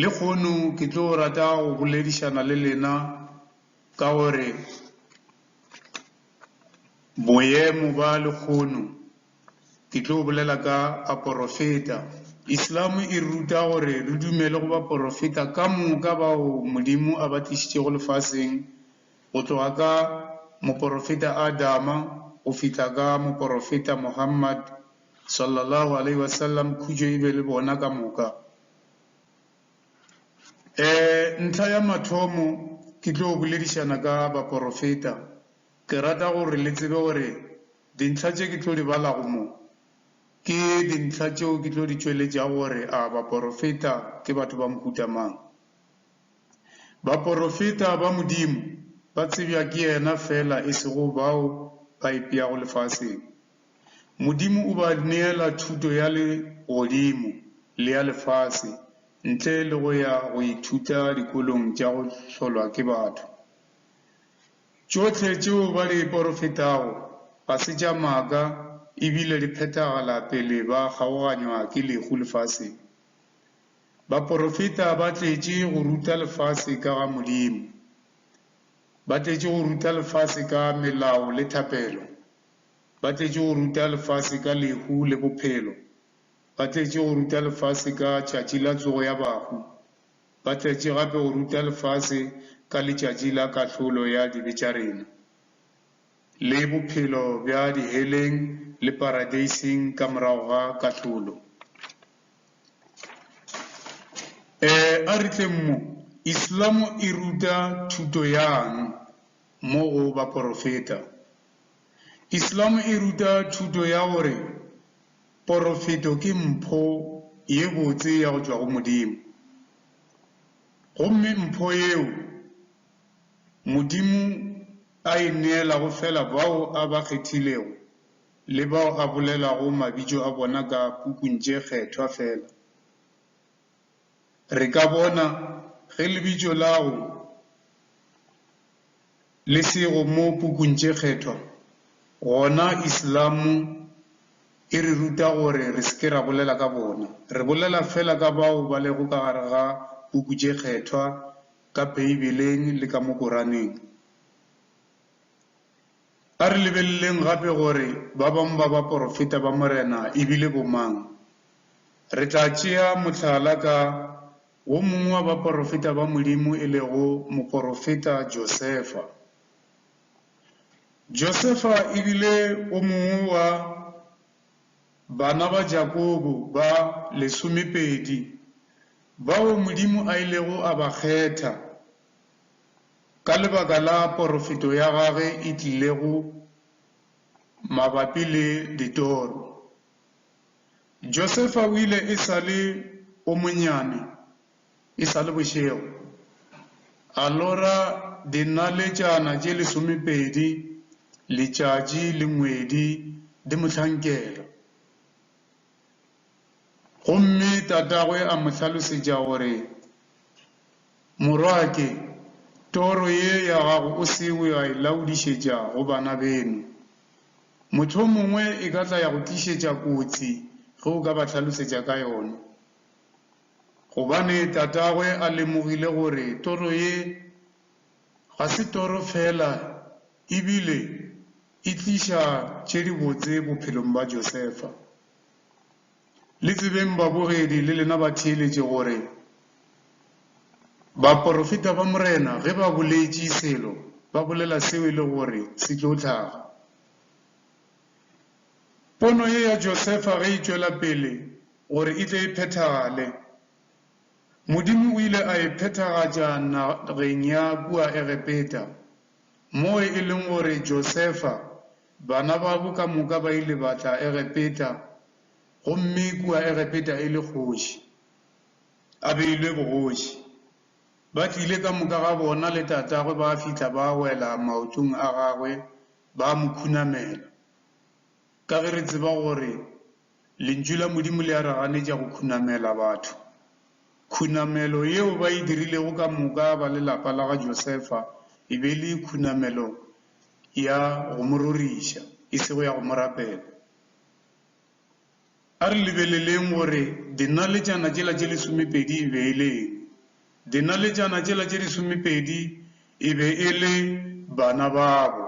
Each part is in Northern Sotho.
Lehono ke tlo rata go boledišana le lena ka gore boemo ba lehono ke tlo bolela ka baporofeta. Islam e ruta gore re dumele go baporofeta ka moka bao Modimo a ba tlišitšego lefaseng go tloga ka moporofeta Adama go fihla ka moporofeta Muhammad, Sallallahu alaihi wasallam, khutšo e be le bona ka moka. E, ntlha ya mathomo ke tlo boledišana ka baporofeta, ke rata gore le tsebe gore dintlha tše ke tlo di balago mo, ke dintlha tšeo ke tlo di tšweletšago gore a baporofeta ke batho ba mohuta mang. Baporofeta ba Modimo ba tsebja ke yena feela e sego bao ba ipšeago lefaseng. Modimo o ba neela thuto ya legodimo le ya lefase ntle le go ya go ithuta dikolong tša go hlolwa ke batho. Tšohle tšeo ba di porofetago ga se tša maaka e bile di phethagala pele ba kgaoganywa ke lehu lefaseng. Baporofeta ba tletše go ruta lefase ka ga Modimo. Ba tletše go ruta lefase ka melao le thapelo. Ba tletše go ruta lefase ka lehu le bophelo. Ba tletše go ruta lefase ka tšatši la tsogo ya bahu. Ba tletše gape go ruta lefase ka letšatši la kahlolo ya dibe tša rena, le bophelo bja diheleng le paradeiseng ka morago ga kahlolo. E, a re tleng mo. Islamo e ruta thuto yang mo go baporofeta? Islam e ruta thuto ya gore porofeto ke mpho ye botse ya go tšwa go Modimo, gomme mpho yeo Modimo a e neelago feela bao a ba kgethilego le bao a bolelago mabitso a bona ka pukung tše kgethwa feela. Re ka bona ge lebitšo lago le sego mo pukung tše kgethwa, gona Islamo e re ruta gore re se ke ra bolela ka bona. Re bolela feela ka bao ba lego ka gare ga puku tše kgethwa ka Beibeleng le ka mo Koraneng. A re lebeleleng gape gore ba bangwe ba baporofeta ba Morena e bile bomang. Re tla tšea mohlala ka wo mongwe wa baporofeta ba Modimo e lego moporofeta Josefa. Josefa e bile o mongwe wa bana ba Jakobo ba lesomepedi bao Modimo a ilego a ba kgetha. Ka lebaka la porofeto ya gage e tlilego mabapi le ditoro, Josefa o ile e sa le o monyane, e sa le bošego, a lora dinaletšana tše lesomepedi, letšatši le ngwedi di mo hlankela. Gomme tatagwe a mo hlalosetša gore, Morwake, toro ye ya gago o se we a e laodišetša go bana beno. Mohlomongwe e ka tla ya go tlišetša kotsi ge o ka ba hlalosetša ka yona. Gobane tatagwe a lemogile gore toro ye ga se toro feela, ebile. E tliša tše dibotse bophelong bja Josefa. Le tsebeng babogedi le lena ba theeletše gore baporofeta ba Morena ge ba boletše selo ba bolela seo e le gore se tlo hlaga. Pono ye ya Josefa ge e tšwela pele gore e tle e phethagale, Modimo o ile a e phethagatša nageng ya kua Egepeta. Moo e leng gore Josefa, bana babo ka moka ba ile ba tla Egepeta, gomme kua Egepeta e le kgoši, a beilwe bogoši. Ba tlile ka moka ga bona le tatagwe ba fihla ba wela maotong a gagwe ba mo khunamela. Ka ge re tseba gore Lentšu la Modimo le a re ganetša go khunamela batho, khunamelo yeo ba e dirilego ka moka ba lelapa la ga Josefa e be e le khunamelo ya go mo roriša, e sego ya go mo rapela. A re lebeleleng gore dinaletšana tšela tše lesomepedi e be e le eng. Dinaletšana tšela tše lesomepedi e be e le bana babo.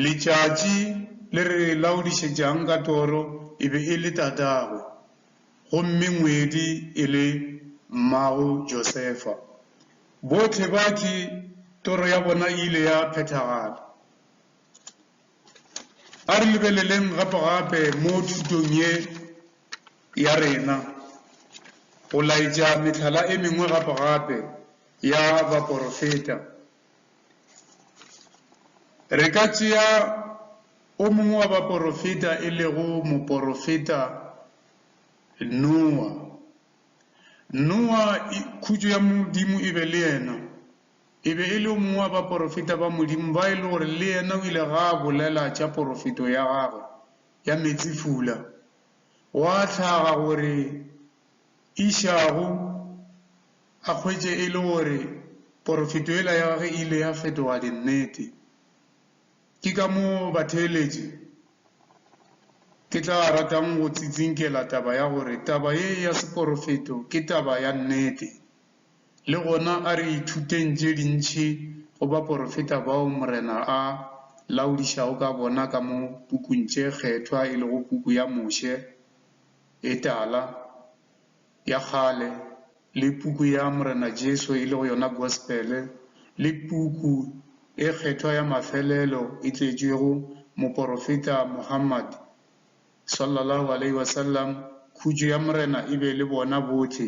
Letšatši le re laodišetšang ka toro e be e le tatagwe, gomme ngwedi e le mmago Josefa. Bohle ba ki toro ya bona e ile ya phethagala. A re lebeleleng gapegape mo thutong ye ya rena go laetša mehlala e mengwe gapegape ya baporofeta. Re ka tšea o mongwe wa baporofeta e lego moporofeta Noa. Noa khutšo ya Modimo e be le yena. E be e le o mongwe wa baporofeta ba Modimo ba e le gore le yena o ile ga a bolela tša porofeto ya gagwe ya meetsefula. Gwa hlaga gore Ishago a hwetše e le gore porofeto yela ya gagwe e ile ya fetoga dinnete. Ke ka moo batheeletši ke tla ratang go tsitsinkela taba ya gore taba ye ya seporofeto ke taba ya nnete. Le gona a re ithuteng tše dintši go baporofeta bao Morena a laodišago ka bona ka mo pukung tše kgethwa e lego puku ya Moše, e tala, ya kgale, le puku ya Morena Jesu e lego yona Gospele, le puku e kgethwa ya mafelelo e tletšwego moporofeta Muhammad, sallallahu alaihi wasallam, khutšo ya Morena e be le bona bohle.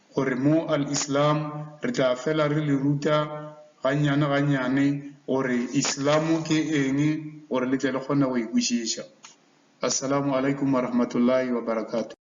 gore mo Al-Islam re tla fela re le ruta gannyane-gannyane gore Islam ke eng gore le tle le kgone go e kwešiša. Assalamu Alaikum Warahmatullahi Wabarakatuh.